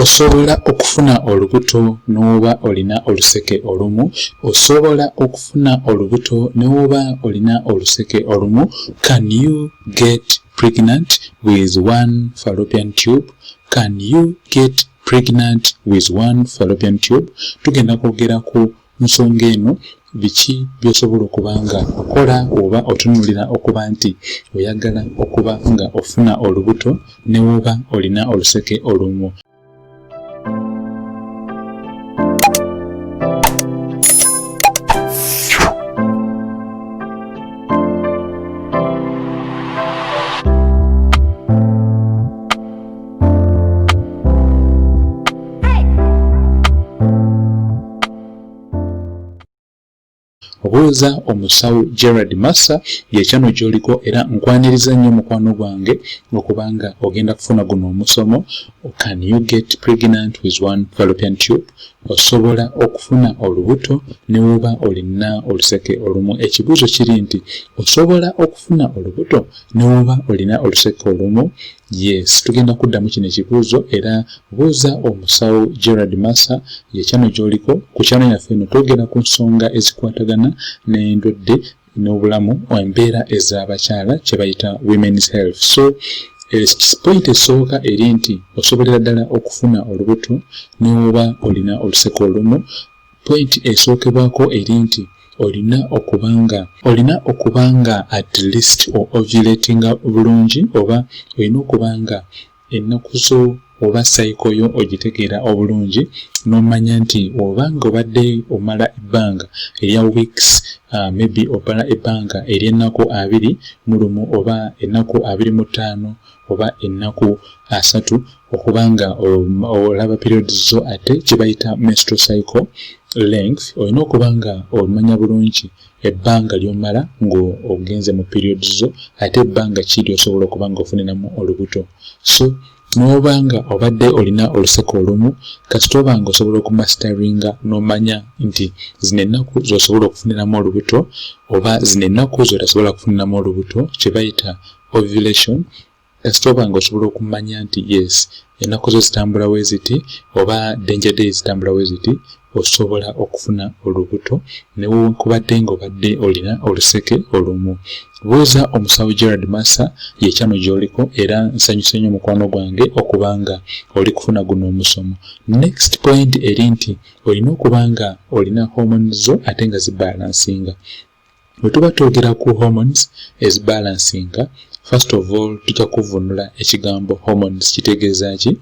Osobola okufuna olubuto n'oba olina oluseke olumu. Osobola okufuna olubuto n'oba olina oluseke olumu. Can you get pregnant with one fallopian tube? Can you get pregnant with one fallopian tube? Tugenda kwogera ku nsonga eno biki byosobola okuba nga okola oba otunulira okuba nti oyagala okuba nga ofuna olubuto newoba olina oluseke olumu obuuza omusawo gerard massa yekyano gyoliko era nkwaniriza nnyo mukwano gwange okuba nga ogenda kufuna guno omusomo can you get pregnant with one fallopian tube osobola okufuna olubuto newuba olina oluseke olumu ekibuuzo kiri nti osobola okufuna olubuto newuba olina oluseke olumu Yes, tugenda kuddamu kino ekibuuzo era buuza omusawo Gerard Massa ye kyano gy'oliko ku kyano yaffe eno twogera ku nsonga ezikwatagana n'endwadde n'obulamu embeera ez'abakyala kye bayita women's health so eh, point esooka eri nti osobolera ddala okufuna olubuto n'oba olina oluseko olumu Pointi esookerwako eri nti olina okuba nga olina okuba nga at least o ovulatinga bulungi oba olina okuba nga ennaku zo oba sayiko yo ogitegeera obulungi n'omanya nti oba nga obadde omala ebbanga erya weeks uh, maybe obala ebbanga ery'ennaku abiri mu lumu oba ennaku abiri mu ttaano oba ennaku asatu okuba nga olaba periods zo ate kyebayita menstrual cycle length olina okuba nga omanya bulungi ebbanga lyomala ng'ogenze mu periods zo ate ebbanga kiri osobola okuba nga ofuniramu olubuto so n'oba nga obadde olina oluseke olumu kasita oba nga osobola okumasitaringa n'omanya nti zino ennaku z'osobola okufuniramu olubuto oba zino ennaku z'otasobola kufuniramu olubuto kye bayita ovulation kasita oba nga osobola okumanya nti yes ennaku zo zitambula we ziti oba danger day zitambula we ziti osobola okufuna olubuto newankubadde ngaobadde olina oluseke olumu buuza omusawo gerard massa yekyano gyoliko era nsanyuse nnyo mukwano gwange okuba nga oli kufuna guno omusomo next point eri nti olina okuba nga olina homoni zo ate nga zibalansinga Bwe tuba twogera ku hormones ezibalansinga, first of all tujja kuvunula ekigambo hormones kitegeeza ki.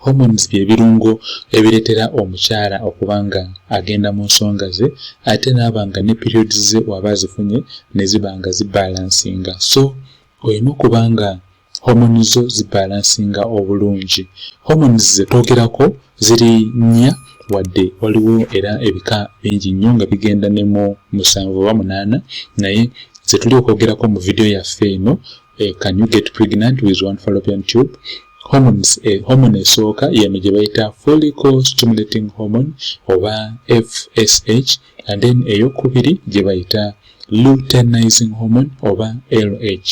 Hormones bye birungo ebireetera omukyala okuba nga agenda mu nsonga ze ate n'aba nga ne periods ze waba azifunye ne ziba nga zibalansinga. So olina okuba nga homoni zo zibalansinga obulungi homoni zetwogerako ziri nnya wadde waliwo era ebika bingi nnyo nga bigenda ne mu musanvu oba munaana naye zetuli okwogerako mu vidiyo yaffe eno eh, can you get pregnant with one fallopian tube hormones eh, hormone esooka yeno gye bayita follicle stimulating hormone oba fsh and then eyokubiri gyebayita luteinizing hormone oba lh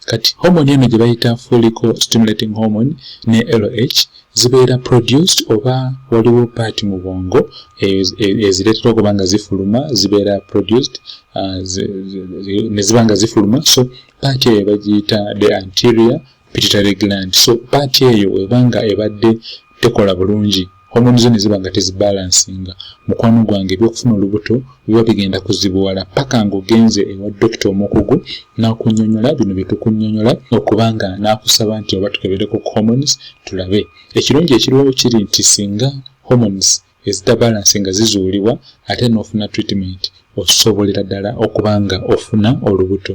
kati hormone eno gyebayita folico stimulating hormone ne lh zibeera produced oba waliwo part mu bwongo ezireetera okuba nga zifuluma zibeera produced uh, neziba nga zifuluma so part eyo bagiyita the anterior pituitary gland so paati eyo weba nga ebadde tekola bulungi homoni zo neziba nga tezibalansinga mukwano gwange ebyokufuna olubuto biba bigenda kuzibuwala paka ngaogenze ewa dokita omukugu nakunyonyola bino byetukunyonyola okubanga nakusaba nti oba tukebereko homons tulabe ekirungi ekiriwo kiri nti singa homons ezitabalanse nga zizuulibwa ate n'ofuna treatment osobolera ddala okuba nga ofuna olubuto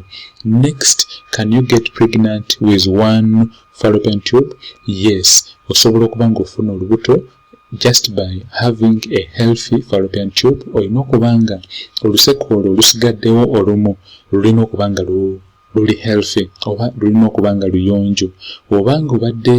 next can you get pregnant with one fallopian tube yes osobola okuba nga ofuna olubuto just by having a healthy fallopian tube olina okuba nga oluseke olwo olusigaddewo olumu lulina okuba nga lu luli healthy oba lulina okuba nga luyonjo oba nga obadde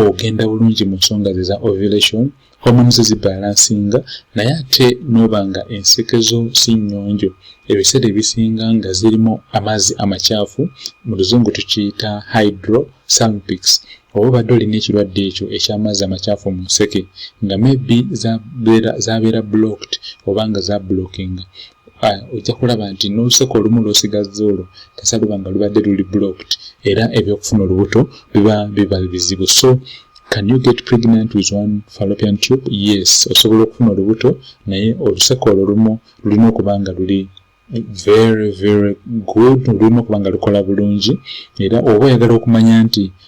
ogenda bulungi mu nsonga ze za ovulation hormones zibalansinga naye ate noba nga enseke zo si nnyonjo ebiseera ebisinga nga zirimu amazzi amakyafu mu luzungu tukiyita hydro salmpics oba obadde olina ekirwadde ekyo eky'amazzi amakyafu mu nseke nga maybe zabeera blocked oba nga zablockinga ah, ojja kulaba nti n'oluseko olumu lw'osigazza olwo kasa luba nga lubadde luli blocked era ebyokufuna olubuto biba biba bizibu so can you get pregnant with one fallopian tube yes osobola okufuna olubuto naye oluseko olwo lumu lulina okuba nga luli very very good lulina okuba nga lukola bulungi era oba oyagala okumanya nti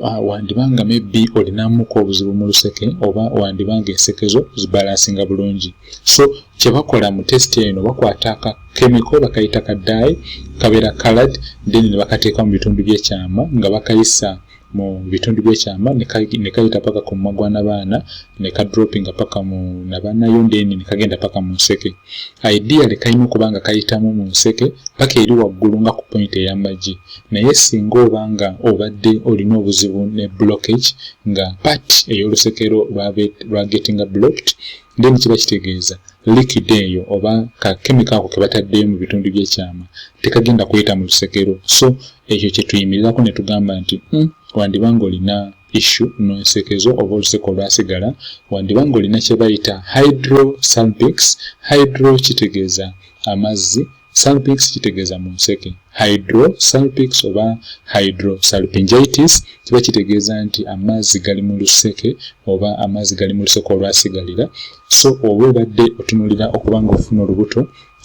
Ah, wandiba nga maybe olinamuko obuzibu mu luseke oba wandiba nga ensekezo zibalansinga bulungi so kyebakola mu test eno bakwata ka kemiko bakayita ka dai kabeera calad then nebakateeka mu bitundu byekyama nga bakayisa mu bitundu byekyama nekayita paka ku mumwa gwa nabaana nekadropinga paka mu nabaanayo then nekagenda paka mu nseke idealy kalina okuba nga kayitamu mu nseke paka eri waggulu nga ku point eyamagi Naye singa oba nga obadde olina obuzibu ne blockage nga part ey'olusekero lwa gettinga blocked then kiba kitegeeza liquid eyo oba ka kemiko ako kebataddeyo mu bitundu by'ekyama tekagenda kuyita mu lusekero so ekyo kye tuyimirirako ne tugamba nti hmm, wandiba nga olina issu n'olusekezo oba oluseke olwasigala wandiba nga olina kye bayita hydrosalpix hydro kitegeeza amazzi Salpix kitegeeza mu nseke. Hydrosalpix oba hydrosalpingitis kiba kitegeeza nti amazzi gali mu luseke oba amazzi gali mu luseke olwasigalira. So oba obadde otunulira okuba ng'ofuna olubuto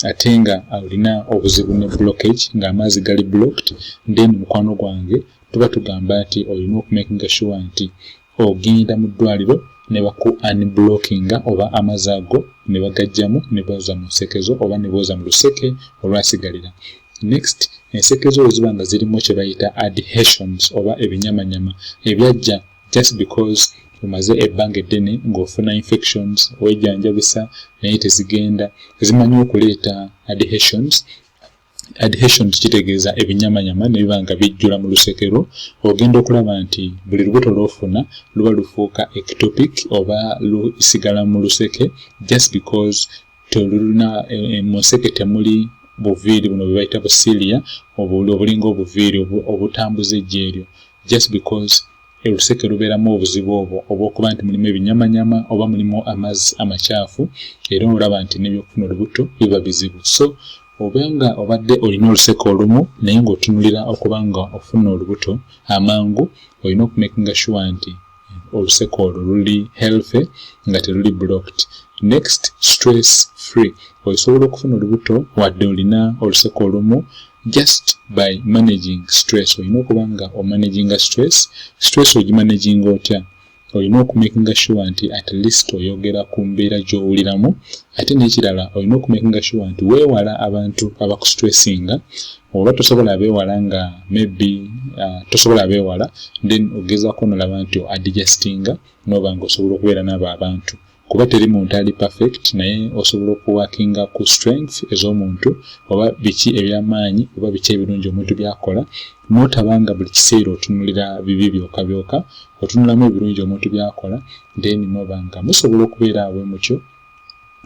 ate nga olina obuzibu ne blockage ng'amazzi gali blocked, then mukwano gwange tuba tugamba nti olina okumakinga sure nti Ogenda mu ddwaliro ne baku unblockinga oba amazi ago ne bagajjamu ne booza mu nsekezo oba ne booza mu luseke olwasigalira. Next, ensekezo bwe ziba nga zirimu kye bayita adhesions oba ebinyamanyama ebyajja just because omaze ebbanga eddene ng'ofuna infections wejanjabisa naye tezigenda, zimanyi okuleeta adhesions adhesion kitegeeza ebinyamanyama nebiba nga bijjula mu lusekero ogenda okulaba nti buli lubuto lwofuna luba lufuuka ectopic oba lusigala mu luseke just because tolulina eh, eh, mu nseke temuli buviiri buno bwebayita busilia obulinga obuviiri obutambuza ejja eryo just because oluseke lubeeramu obuzibu obwo obwokuba nti mulimu ebinyamanyama oba mulimu amazzi amakyafu era olaba nti nebyokufuna olubuto biba bizibu so Oba nga obadde olina oluseke olumu naye ng'otunulira okuba nga ofuna olubuto amangu, olina okumakinga sure nti oluseke olwo luli healthy nga teruli blocked. Next, stress free. Osobola okufuna olubuto wadde olina oluseke olumu just by managing stress. Olina okuba nga omanaginga stress. Stress ogimanaginga otya? olina okumakinga sure nti at least oyogera ku mbeera gy'owuliramu ate n'ekirala olina okumakinga sure nti weewala abantu abakustressinga oba tosobola abeewala nga maybe uh, tosobola abeewala then ogezaako nolaba nti adjustinga noba nga osobola okubeera n'abo abantu kuba teri muntu ali perfect naye osobola okuwakinga ku strength ez'omuntu oba biki ebyamaanyi oba biki ebirungi omuntu byakola notabanga buli kiseera otunulira bibi byoka byoka otunulamu ebirungi omuntu byakola then nobanga musobola okubeera awe mukyo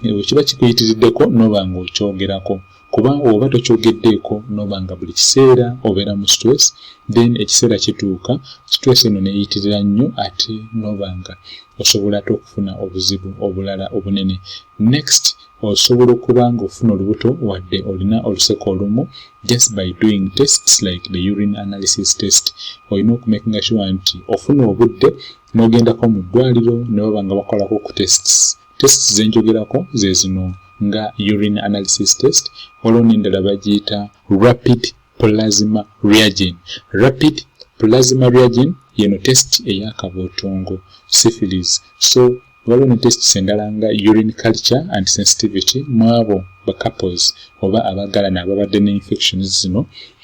ewe kiba kikuyitiriddeko nobanga okyogerako kuba oba tokyogeddeeko noba nga buli kiseera obeera mu stress then ekiseera kituuka stress eno neyitirira nnyo ate noba nga osobola ate okufuna obuzibu obulala obunene next osobola okuba nga ofuna olubuto wadde olina oluseko olumu just by doing tests like the urine analysis test olina okumakinga sure nti ofuna obudde n'ogendako mu ddwaliro ne baba nga bakolako ku tests Tests ze njogerako ze zino nga urine analysis test waliwo n'endala bagiyita rapid plasma reagin rapid plasma reagin yeno test eyakabootongo syphilis so waliwo ne tests endala nga urine culture and sensitivity mwabo ba couples oba abagalana ababadde ne infections zino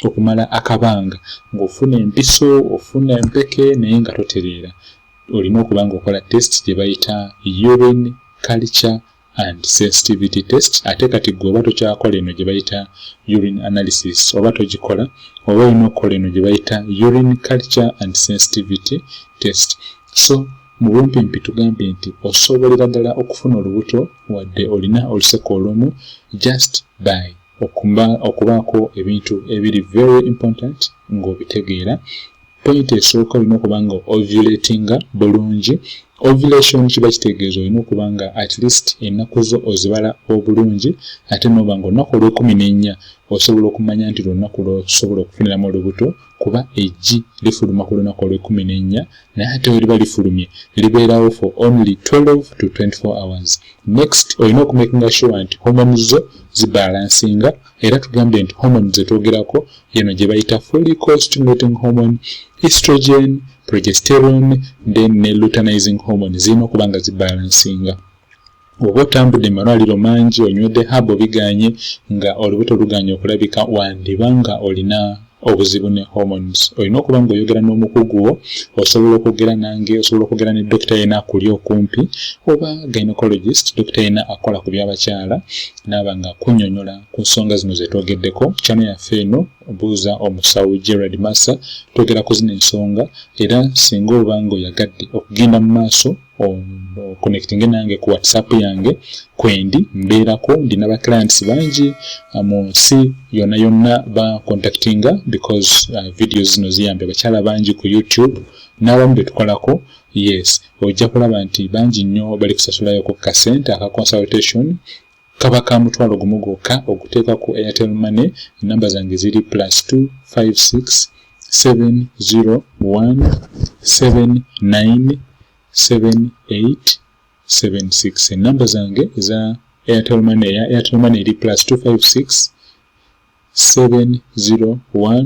okumala akabanga ng'ofuna empiso ofuna empeke naye nga totereera olina okuba nga okola test gye bayita urine culture and sensitivity test ate kati gwe oba tokyakola eno gye bayita urine analysis oba togikola oba olina okukola eno gye bayita urine culture and sensitivity test so mu bumpimpi tugambye nti osobolera ddala okufuna olubuto wadde olina oluseko olumu just by Okumba, okubaako ebintu ebiri very important ng'obitegeera, point esooka olina okuba nga ovulatinga bulungi. Ovulation kiba kitegeeza olina okuba nga at least ennaku zo ozibala obulungi ate n'oba nga olunaku olw'ekumi n'ennya osobola okumanya nti lwe lunaku lw'osobola okufuniramu olubuto kuba eggi lifuluma ku lunaku olw'ekkumi n'ennya naye ate we liba lifulumye libeerawo for only 12 to 24 hours next olina okumakinga sure nti homoni zo zibalansinga era tugambye nti homoni zetwogerako yeno gye bayita folicostimulating homoni estrogen progesterone then ne lutanizing homoni zirina okuba nga zibalansinga Oba otambudde mu malwaliro mangi, onywedde haabu biganye, nga olubuto luganye okulabika, wandiba nga olina obuzibu ne hormones. Olina okuba nga oyogera n'omukugu wo, osobola okwogera nange, osobola okwogera ne dokita yena akuli okumpi, oba gynecologist, dokita yena akola ku by'abakyala, naaba nga akunyonyola ku nsonga zino zetwogeddeko. Channel yaffe eno buuza omusawo Gerald Massa, twogera ku zino ensonga, era singa oba nga oyagadde okugenda mu maaso, connecting nange ku whatsapp yange kwendi mbeerako ndina ba clients bangi uh, mu nsi yonna yonna ba contactinga because uh, video zino ziyambye abakyala bangi ku youtube n'abamu be tukolako yes ojja kulaba nti bangi nnyo bali kusasulayo ku kasente aka consultation Kaba ka mutwalo gumu gwokka okuteeka ku Airtel Money, ennamba zange ziri plus 256 701797876 ennamba zange eza Airtel Money eya Airtel Money eri plus 256 701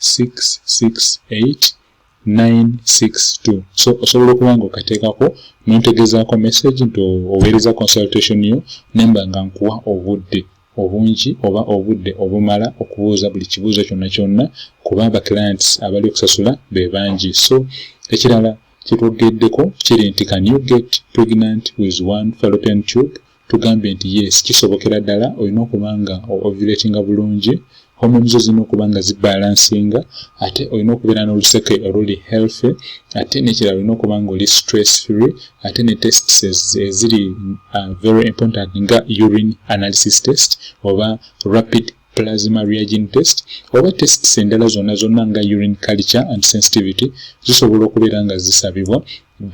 668962 so osobola okuba nga okateekako nontegezaako message nti oweereza consultation yo nemba nga nkuwa obudde obungi oba obudde obumala okubuuza buli kibuuzo kyonna kyonna kuba aba clients abali okusasula be bangi so ekirala kyetwogeddeko kiri nti can you get pregnant with one fallopian tube tugambye nti yes kisobokera ddala olina okuba nga ovulatinga bulungi hormones zo zirina okuba nga zibalansinga ate olina okubeera n'oluseke oluli healthy ate nekirala olina okuba nga oli stress free ate ne tests eziri uh, very important nga urine analysis test oba rapid plasma reagin test oba tests endala zonna zonna nga urine culture and sensitivity zisobola okubeera nga zisabibwa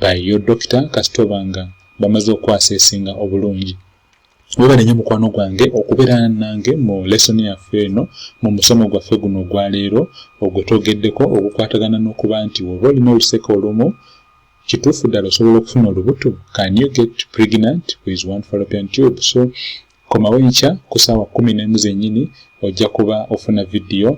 by your doctor kasita obanga bamaze okukwasa esinga obulungi webale nyo mukwano gwange okubeera nange mu lesoni yaffe eno mu musomo gwaffe guno ogwaleero ogwe twogeddeko ogukwatagana n'okuba nti woba olina oluseke olumu kituufu ddala osobola okufuna olubuto can you get pregnant with one fallopian tube so Komawo enkya ku ssaawa kkumi n'emu zennyini ojja kuba ofuna vidiyo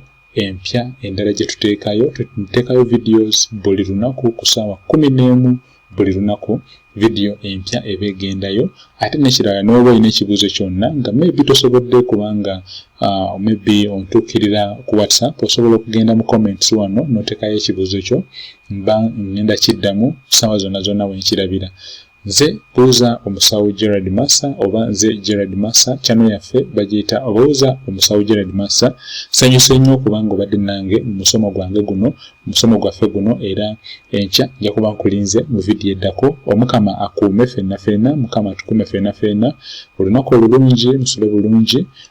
empya endala gye tuteekayo. Tuteekayo videos buli lunaku ku ssaawa kkumi n'emu buli lunaku vidiyo empya eba egendayo. Ate n'ekirala n'oba olina ekibuuzo kyonna nga maybe tosobodde kubanga uh, maybe ontuukirira ku whatsapp osobola okugenda mu comments wano n'oteekayo ekibuuzo kyo mba ngenda kiddamu ssaawa zonna zonna wenkirabira. Nze buuza omusawo Gerald Massa oba nze Gerald Massa channel yaffe bagiyita buuza omusawo Gerald Massa sanyuse nnyo okubanga obadde nange mu musomo gwange guno musomo gwaffe guno era enkya nja kuba nkulinze mu vidiyo eddako omukama akuume fenna fenna mukama atukuume fenna fenna olunaku olulungi musule bulungi